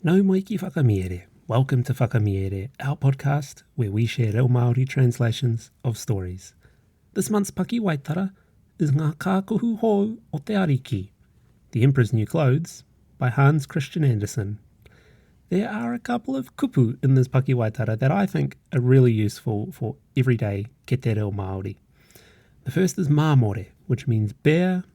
Nau mai ki Whakamiere! Welcome to Whakamiere, our podcast where we share reo Māori translations of stories. This month's pakiwaitara is Ngā Kākohu Hou o te Ariki, The Emperor's New Clothes, by Hans Christian Andersen. There are a couple of kupu in this pakiwaitara that I think are really useful for everyday kete reo Māori. The first is māmore, which means bear,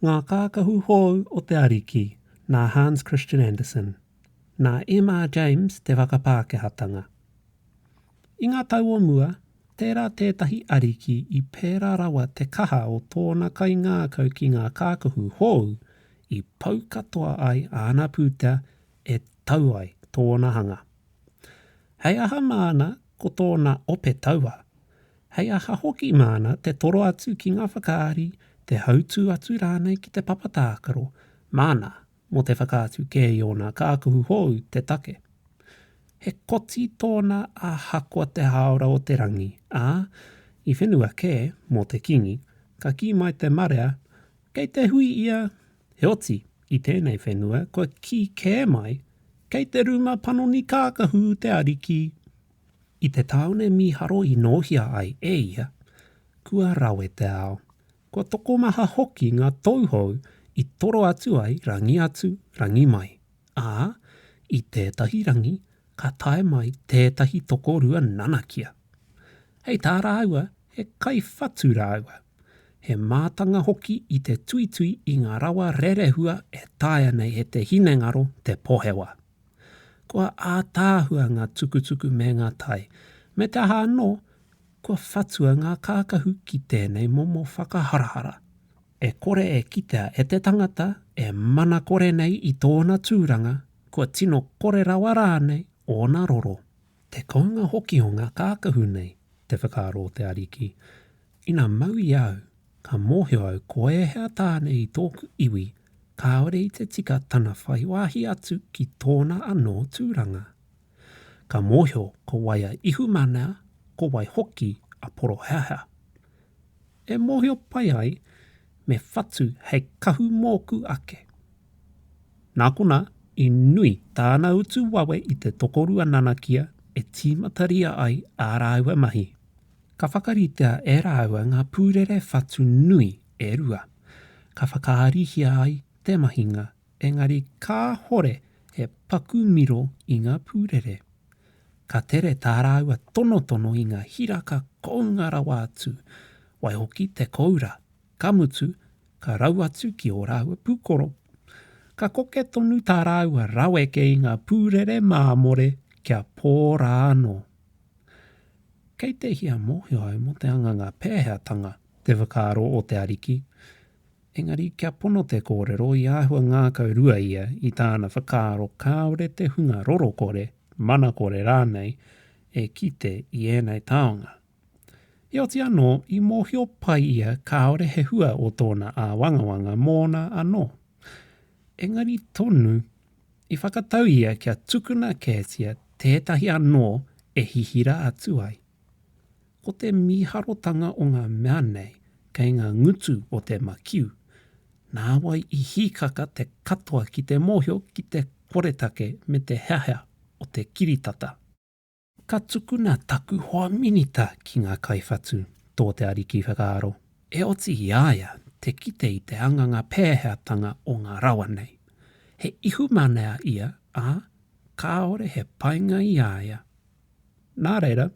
Ngā Kākahu Hou o te Ariki, nā Hans Christian Andersen, nā M. R. James te whakapākehātanga. I ngā tau o mua, tērā tētahi ariki i pērā rawa te kaha o tōna kaingākau ki ngā kākahu hou i pau katoa ai āna pūtea e tau ai tōna hanga. Hei aha māna ko tōna ope taua, hei aha hoki māna te toro atu ki ngā whakaari, te hautū atu rānei ki te papa tākaro, māna mō te whakaatu kē i ōna kākuhu hou te take. He koti tōna ahakoa te hāora o te rangi, ā, i whenua kē mō te kīngi, ka kī mai te marea, Kei te hui ia, heoti, i tēnei whenua kua kī kē mai, Kei te rūma panoni kākahu te ariki. I te tāone mīharo i nōhia ai e ia, kua rawe te ao. Kua tokomaha hoki ngā tauhou i toro atu ai rangi atu, rangi mai, ā, i tētahi rangi ka tae mai tētahi tokorua nanakia. Hei tā rāua he kaiwhatu rāua, he mātanga hoki i te tuitui i ngā rawa rerehua e taea nei e te hinengaro te pohewa. Kua ātaahua ngā tukutuku me ngā tai, me te aha anō, kua whatua ngā kākahu ki tēnei momo whakaharahara. E kore e kitea e te tangata e mana kore nei i tōna tūranga, kua tino kore rawa rānei ōna roro. Te kounga hoki o ngā kākahu nei, te whakaaro o te Ariki, Ina mau i a au, ka mōhio au ko ēhea tāne i tōku iwi, kāore i te tika tana whai wāhi atu ki tōna anō tūranga. Ka mōhio ko wai a Ihumana, ko wai hoki a Poroheaha. E mōhio pai ai, me whatu hei kahu mōku ake. Nā konā, i nui tāna utu wawe i te tokorua nanakia e tīmataria ai ā rāua mahi. Ka whakaritea e rāua ngā pūrere whatu nui e rua, ka whakaarihia ai te mahinga, engari kāhore he paku miro i ngā pūrere. Ka tere tā rāua tonotono i ngā hiraka kounga rawa atu, waihoki te koura Ka mutu, ka rau atu ki ō rāua pūkoro. Ka koke tonu tā rāua raweke i ngā pūrere māmore kia pō rā anō. Kei te hia mōhio au mō te hanganga pēheatanga te whakaaro o te Ariki, engari kia pono te kōrero i āhua ngākau rua ia i tāna whakaaro kāore te hunga roro kore, mana kore rānei e kite i ēnei taonga. Heoti anō, i mōhio pai ia kāore he hua o tōna āwangawanga mōna anō. Engari tonu, i whakatau ia kia tukuna kētia tētahi anō e hihira atu ai. Ko te mīharotanga o ngā mea nei kei ngā ngutu o te makiu, nāwai i hīkaka te katoa ki te mōhio ki te koretake me te heahea o te kiritata. Ka tukuna taku hoa minita ki ngā kaiwhatu, tō te Ariki i whakaaro, e oti i a ia te kite i te hanganga pēheatanga o ngā rawa nei. He ihumanea ia, ā, kāore he painga i a ia. Nā reira,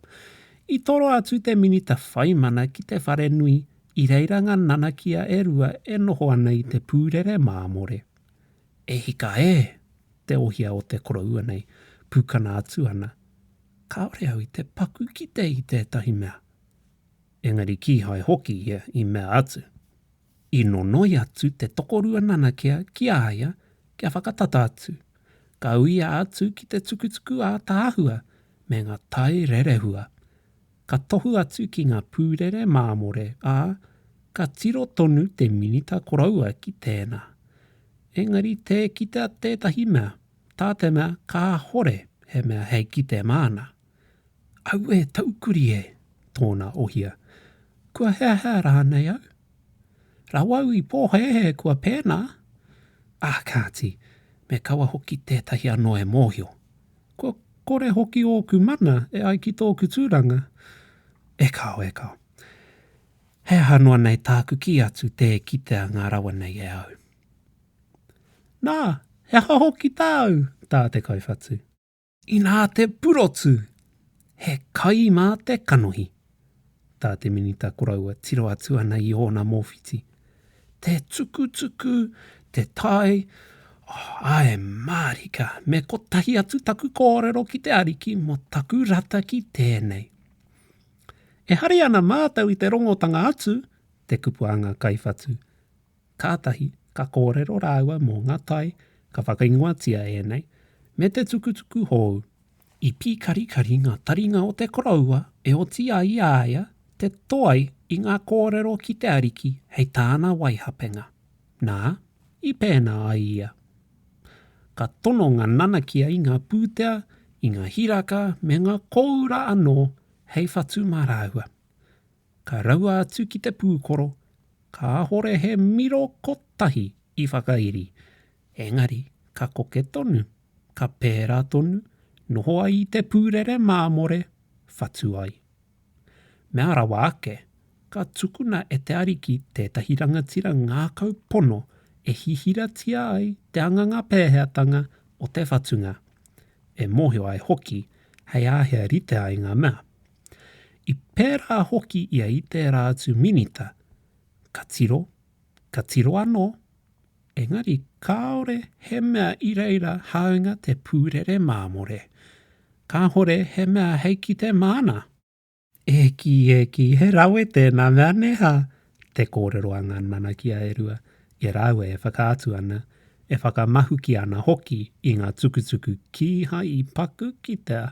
i toro atu te minita whai mana ki te wharenui i reira ngā nanakia e rua e noho ana i te pūrere māmore. E hika e! Te ohia o te koroua nei, pukana atu ana. Kāore au i te paku kite i tētahi mea. Engari kīhai hoki ia i mea atu. I nonoi atu te tokorua nanakia ki a ia kia whakatata atu. Ka uia atu ki te tukutuku ātaahua me ngā tai rerehua. ka tohu atu ki ngā pūrere māmore, ā, ka tiro tonu te minita koroua ki tēnā. Engari tē kitea tētahi mea, tā te mea kāhore he mea hei kite māna. Aue taukuri e! tōna ohia. Kua heahea rānei au? Rawau i pōhēhē kua pēnā! Ā, kāti, me kaua hoki tētahi anō e mōhio, Kua kore hoki ōku mana e ai ki tōku tūranga? E kao, e kao. He aha noa nei tāku kī atu tē kitea ngā rawa nei e au? Nā, he aha hoki tāu? tā te kaiwhatu. Inā te purotu! He kai mā te kanohi. tā te Minita koroua tiro atu ana i ōna mōwhiti. Te tukutuku, te tae, oh, ae mārika, me kotahi atu taku kōrero ki te Ariki mō taku rata ki tēnei. E hari ana mātou i te rongotanga atu, te kupu a ngā kaiwhatu. Kātahi ka kōrero rāua mō ngā tai ka whakaingoatia ēnei me te tukutuku hōu. I pīkarikari ngā taringa o te koroua e oti ai i a ia te toe i ngā kōrero ki te Ariki hei tāna waihapenga. Nā, i pēnā ai ia. Ka tono ngā nanakia i ngā pūtea, i ngā hiraka me ngā kōura anō hei whatu mā rāua. Ka raua atu ki te pūkoro, kāhore he miro kotahi i whakairi, engari ka koke tonu, ka pērā tonu, noho ai i te pūrere māmore, whatu ai. Mea rawa ake, ka tukuna e te Ariki tētahi rangatira ngākau pono e hihiratia ai te anganga pēheatanga o te whatunga, e mōhio ai hoki hei āhea rite ai ngā mea. I pērā hoki ia i tērā atu minita, ka tiro, ka tiro anō, engari kāore he mea i reira hāunga te pūrere māmore. Kāore he mea hei kite māna. E kī, e kī, he rawe tēnā mea, nē hā? te kōrero a ngā nanakia e rua, e rāua e whakaatu ana, e whakamahuki ana hoki i ngā tukutuku kīhai i paku ki te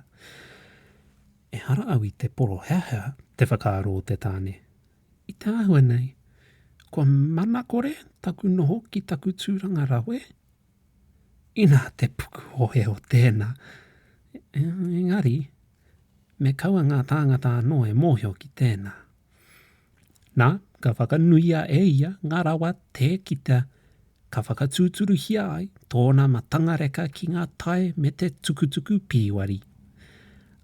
Ehara au i te poroheahea, te whakaaro o te tāne. I te āhua nei, kua manakore taku noho ki taku tūranga rawe? Inā te pukuhohe o tēnā! Engari, me kaua ngā tāngata anō e mōhio ki tēnā. Nā, ka whakanuia e ia ngā rawa tē kita, ka whakatūturuhia ai tōna matangareka ki ngā tae me te tukutuku pīwari.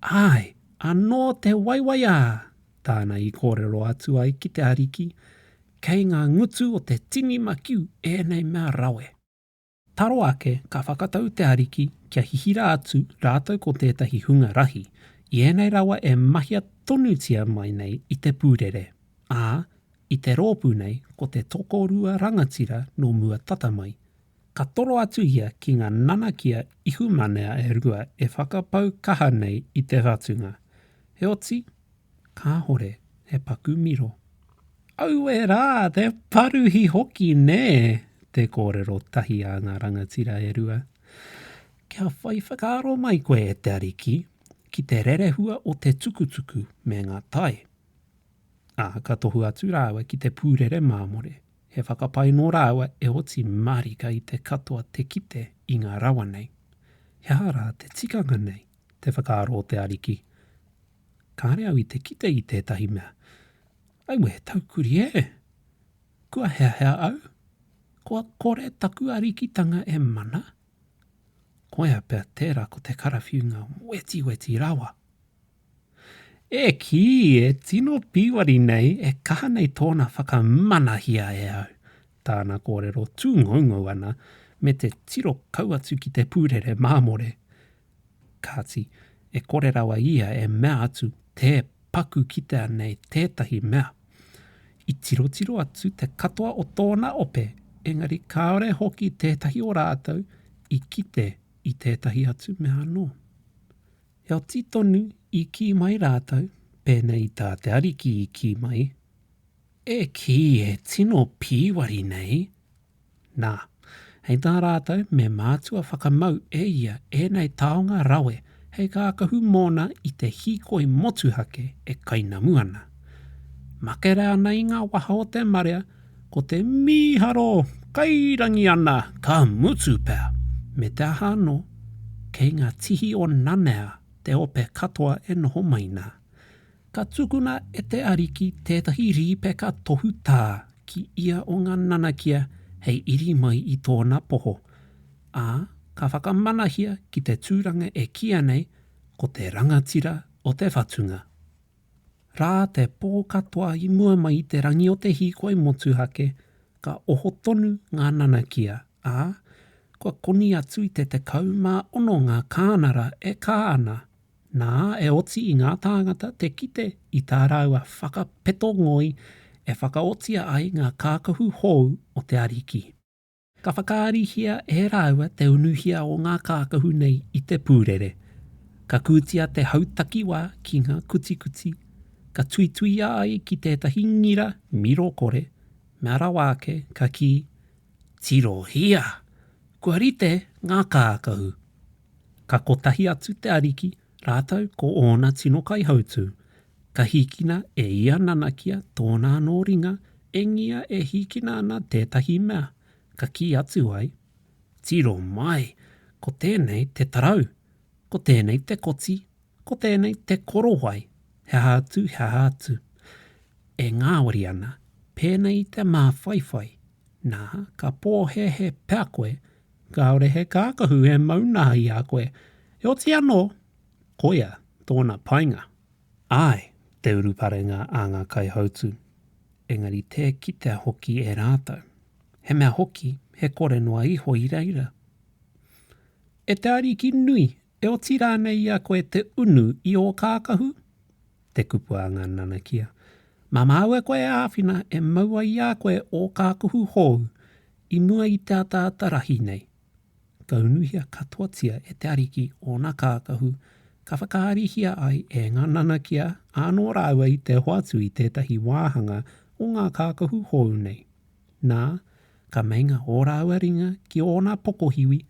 Āe, anō te waiwaiā! tāna i kōrero atu ai ki te Ariki, Kei ngā ngutu o te tini makiu ēnei mea rawe. Taro ake, ka whakatau te Ariki kia hihira atu rātou ko tētahi hunga rahi, i ēnei rawa e mahia tonutia mai nei i te pūrere, ā, i te rōpū nei ko te tokorua rangatira nō mua tata mai. Ka toro atu ia ki ngā nanakia ihumanea e rua e whakapau kaha nei i te whatunga. Heoti, Kāhore he paku miro. Aue rā, te paruhi hoki nē! te kōrero tahi a ngā rangatira e rua. Kia whai whakaaro mai koe e te Ariki ki te rerehua o te tukutuku me ngā tae. Ā, ka tohu atu rāua ki te pūrere māmore, he whakapae nō rāua e oti mārika i te katoa te kite i ngā rawa nei. He aha rā te tikanga nei? te whakaaro o te Ariki. Kāre au i te kite i tētahi mea. Aue he taukuri ē! Kua heahea au? Kua kore taku arikitanga e mana? Koia pea tērā ko te karawhiunga wetiweti rawa! E kī, e tino pīwari nei, e kaha nei tōna whakamanahia e au! Tāna kōrero tūngoungou ana me te tiro kau atu ki te pūrere māmore. Kāti, e kore rawa ia e mea atu, tē paku kitea nei tētahi mea. I tirotiro atu te katoa o tōna ope, engari kāore hoki tētahi o rātou i kite i tētahi atu mea anō. Heoti tonu i kī mai rātou, pēnei i tā te Ariki i kī mai, E kī e tino pīwari nei, Nā, hei tā rātou me mātua whakamau e ia ēnei taonga rawe hei kākahu mōna i te hīkoi motuhake e kainamu ana. Makere ana i ngā waha o te marea, ko te mīharo kairangi ana ka mutu pea, me te aha anō, kei ngā tihi o Nanea te ope katoa e noho mai nā. Ka tukuna e te Ariki tētahi rīpeka tohutā ki ia o ngā nanakia hei iri mai i tōna poho, ā, ka whakamanahia ki te tūranga e kīa nei ko te rangatira o te whatunga. Rā te pō katoa i mua mai i te rangi o te hīkoi motuhake, ka oho tonu ngā nanakia, ā, kua koni atu i te tekau mā ono ngā kānara e kā ana, nā, e oti i ngā tāngata te kite i tā rāua whakapeto ngoi e whakaotia ai ngā kākahu hou o te Ariki. Ka whakaarihia e rāua te unuhia o ngā kākahu nei i te pūrere. Ka kūtia te hautakiwa ki ngā kutikuti, ka tuituia ai ki tētahi ngira miro kore, mea rawa ake ka kī, Tirohia! Kua rite ngā kākahu. Ka kotahi atu te Ariki rātou ko ōna tino kaihautū, ka hīkina e ia nanakia tōna anō ringa engia e hīkina ana tētahi mea, ka kī atu ai, Tiro mai! Ko tēnei te tarau, ko tēnei te koti, Ko tēnei te korowai, he aha atu, he aha atu. E ngāwari ana, pēnei i te māwhaiwhai, nā, ka pōhēhē pea koe, kāore he kākahu e maunahī i a koe, e oti anō, koia tōna painga. Āe, te uruparenga a ngā kaihautū, engari tē kitea hoki e rātou, he mea hoki he kore noa iho i reira. E te Ariki nui E oti rānei i a koe te unu i ō kākahu? te kupu a ngā nanakia. Mā māua koe e āwhina e mau ai i a koe ō kākahu hou i mua i te ataata rahi nei. Ka unuhia katoatia e te Ariki ōna kākahu, ka whakaarihia ai e ngā nanakia ānō rāua i te hoatu i tētahi wāhanga o ngā kākahu hou nei. Nā, ka meinga ō rāua ringa ki ōna pokohiwi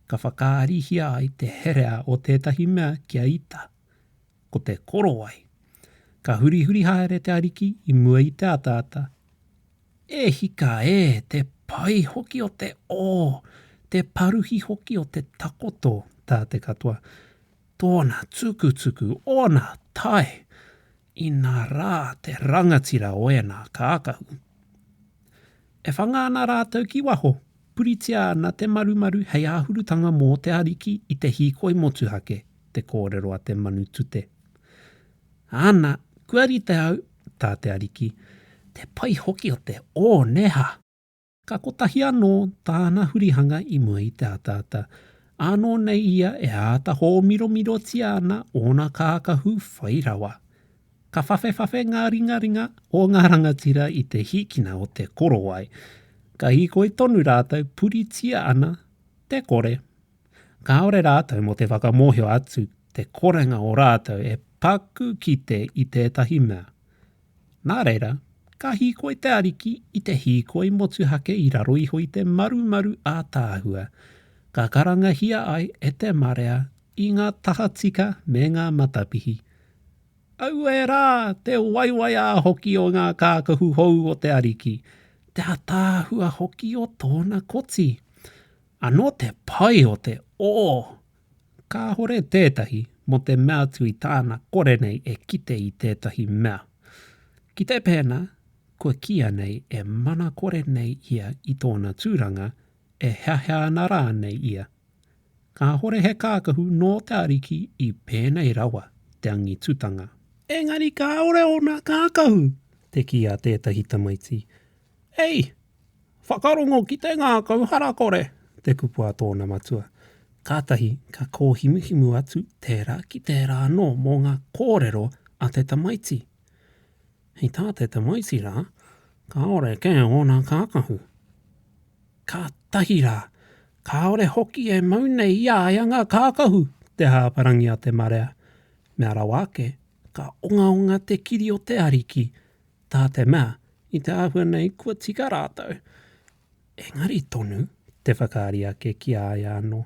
ka whakaarihia ai te herea o tētahi mea ki a Ita, ko te korowai. Ka hurihuri haere te Ariki i mua i te ataata, E hika e, te pai hoki o te ō, te paruhi hoki o te takoto, tā te katoa, Tōna tukutuku, ōna tae, inā rā te rangatira o ēnā kākahu. E whanga ana rātou ki waho, puritia ana te marumaru hei āhurutanga mō te Ariki i te hīkoi motuhake, te kōrero a te manu tute. Ana, kua rite au, tā te Ariki, te pai hoki o te ōneha! Ka kotahi anō tāna hurihanga i mua i te ataata, ānō nei ia e āta hōmiromirotia ana ōna kākahu whai rawa. Ka whawhewhawhe ngā ringaringa o ngā rangatira i te hīkina o te korowai, ka hīkoi tonu rātou puritia ana te kore. Kāore rātou mō te whakamōhio atu te korenga o rātou e paku kite i tētahi mea. Nā reira, ka hīkoi te Ariki i te hīkoi motuhake i raro iho i te marumaru ātaahua, ka karangahia ai e te marea i ngā tahatika me ngā matapihi. Auē rā, te waiwaiā hoki o ngā kākahu hou o te Ariki, te ātaahua hoki o tōna koti! Anō te pai o te, o! Kāhore tētahi mō te mea atu i tāna kore nei e kite i tētahi mea. Kite pēnā kua kīia nei e mana kore nei ia i tōna tūranga, e heahea ana rānei ia. Kāhore he kākahu nō te Ariki i pēnei rawa te angitutanga. Engari kāore ōna kākahu, te kī a tētahi tamaiti, Hei! Whakarongo ki te ngākau harakore! te kupu a tōna matua. Kātahi ka kōhimuhimu atu tērā ki tērā anō mō ngā kōrero a te tamaiti. Hei tā te tamaiti rā, kāore kē ōna kākahu. Kātahi rā, kāore hoki e mau nei i a ia ngā kākahu! te hāparangi a te marea. Mea rawa ake, ka ongaonga te kiri o te Ariki, Tā te mea, i te āhua nei kua tika rātou, engari tonu te whakaari ake ki a ia anō,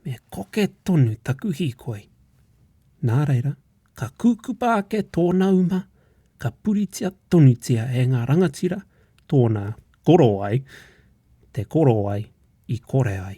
me koke tonu taku hīkoi. Nā reira, ka kūkupa ake tōna uma, ka puritia tonutia e ngā rangatira tōna korowai, te korowai i kore ai.